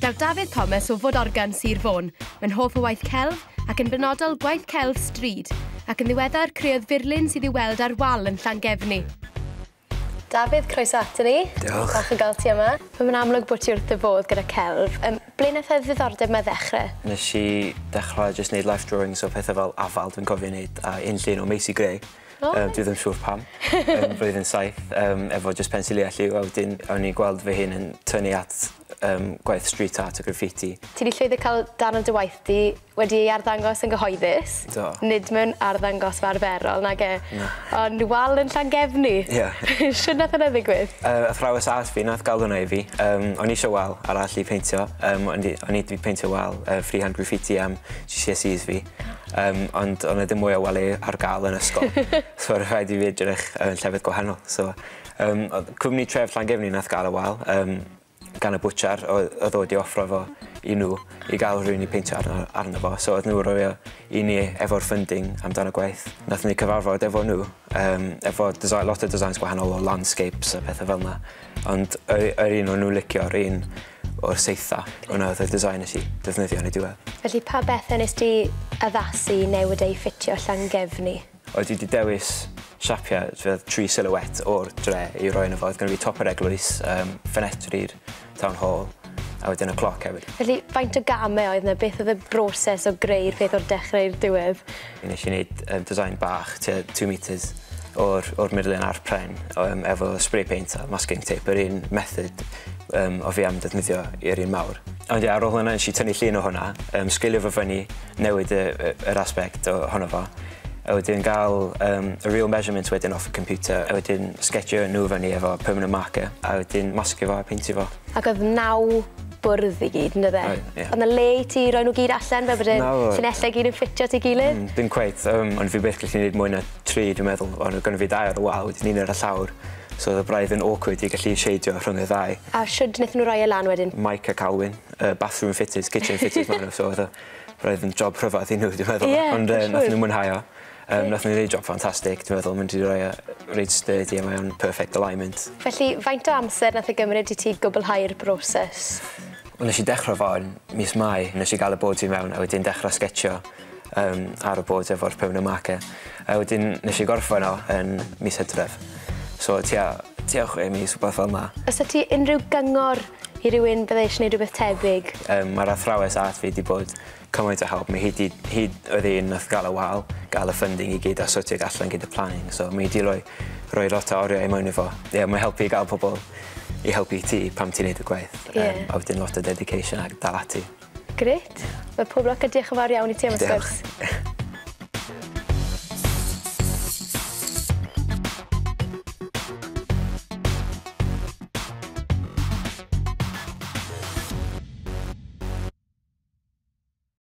Daw Dafydd Thomas o Fod Organ, Sir Fôn, yn hoff o waith celf ac yn benodol gwaith celf stryd, ac yn ddiweddar creodd furlun sydd i'w weld ar wal yn Llangefni. Dafydd, croeso ato ni. Diolch. Falch o gael ti yma. Fe mae'n amlwg bod ti wrth dy fodd gyda celf. Um, ble wnaeth y ddiddordeb yma ddechrau? Nes i dechrau jyst wneud life drawings o pethau fel afal dwi'n cofio wneud a un llun o Macy Gray. O! Yy dwi ddim siŵr pam. Yn blwyddyn saith yym efo jyst pensil i a lliw a wedyn o'n i'n gweld fy hun yn tynnu at yym gwaith street art a graffiti. Ti 'di llwyddo ca'l darn o dy waith di wedi ei arddangos yn gyhoeddus. Do. Nid mewn arddangosfa arferol nage? Na. Ond wal yn Llangefni. Ie. Shwd nath wnna ddigwydd? Yy athrawes art fi nath ga'l wnna i fi. Yym o'n i isio wal arall i peintio yym o'n i o'n i 'di peintio wal yy free hand graffiti am GCSEs fi. Yym ond o' 'na dim mwy o wely ar ga'l yn ysgol so o' rhaid i fi edrych ar llefydd gwahanol so yym odd cwmni tref Llangefni nath ga'l y wal yym gan y bwtsiar oedd odd o wedi offro fo i nw i ga'l rywun i peintio arno arno fo so odd nw roi o i ni efo'r funding amdan y gwaith. Nathon ni cyfarfod efo nw Yym efo design lot o designs gwahanol o landscapes a petha fel 'na ond yr u- yr un o'n nw licio o'r un o'r saetha wnna o'dd y design nes i defnyddio yn y diwedd. Felly pa bethe nest ti addasu i newid eu ffitio Llangefni? Oedd dwi 'di dewis siapia' t'wod tri silhouette o'r dre i roi yno fo o'dd gynno fi top yr eglwys yym ffenetri Town Hall a wedyn y cloc hefyd. Felly faint o gamau oedd 'na? Beth oedd y broses o greu'r peth o'r dechrau i'r diwedd? Nes i neud yym design bach tua two metres o'r o'r murlun a'r pren o yym efo spray paint a masking tape yr un method yym o fi am ddefnyddio i'r un mawr. Ond ie ar ôl hwnna nesh i tynnu llun o hwnna yym sgilio fo fyny newid y, y, yr aspect o, hono fo. A wedyn gael um, y real measurements wedyn off y computer, a wedyn sketchio nhw fyny efo permanent marker, a wedyn masgio fo a peintio fo. Ac oedd naw bwrdd i gyd, yn dydde? Oedd, ie. Oedd na le i ti roi nhw gyd allan, fel bod yn llinellau gyd yn ffitio ti gilydd? Mm, dim cweith, um, ond fi byth gallu gwneud mwy na tri, dwi'n meddwl, ond oedd gynnu fi dau ar y wal, wedyn un ar y llawr. So oedd y braidd yn awkward i gallu sheidio rhwng y ddau. A siwyd wnaethon nhw roi e lan wedyn? Mike a Calwyn. yy bathroom fitters kitchen fitters ma' n'w so fatha roedd yn job rhyfadd i n'w dwi meddwl. Ie. Ond yy nathon n'w mwynhau o. Yym nathon n'w neud job ffantastig dwi meddwl ma' n'w 'di roi o reit sturdy a mae o'n perfect alignment. Felly faint o amser nath e gymryd i ti gwbwlhau'r broses? Wel nesh i dechre fo yn mis Mai nesh i ga'l y boards i mewn a wedyn dechra sgetsio yym ar y boards efo'r permanent marker a wedyn nesh i gorffen o yn mis Hydref so tua tua chwe mis wbath fel 'na. O's 'da ti unrhyw gyngor i rywun bydde eisiau gwneud rhywbeth tebyg? Yym mae'r athrawes ath fi 'di bod cymaint o help mi hi 'di hi oedd un nath gael y wal gael y funding i gyd a sortio ag allan gyda planning so mi 'di roi roi lot o oriau mewn i fo. Ie mae'n helpu i gael pobl i helpu ti pan ti'n neud y gwaith. Ie. Yym a wedyn lot o dedication a dal ati. Grêt. Wel pob lwc a diolch yn fawr iawn i ti am y sgwrs. Diolch.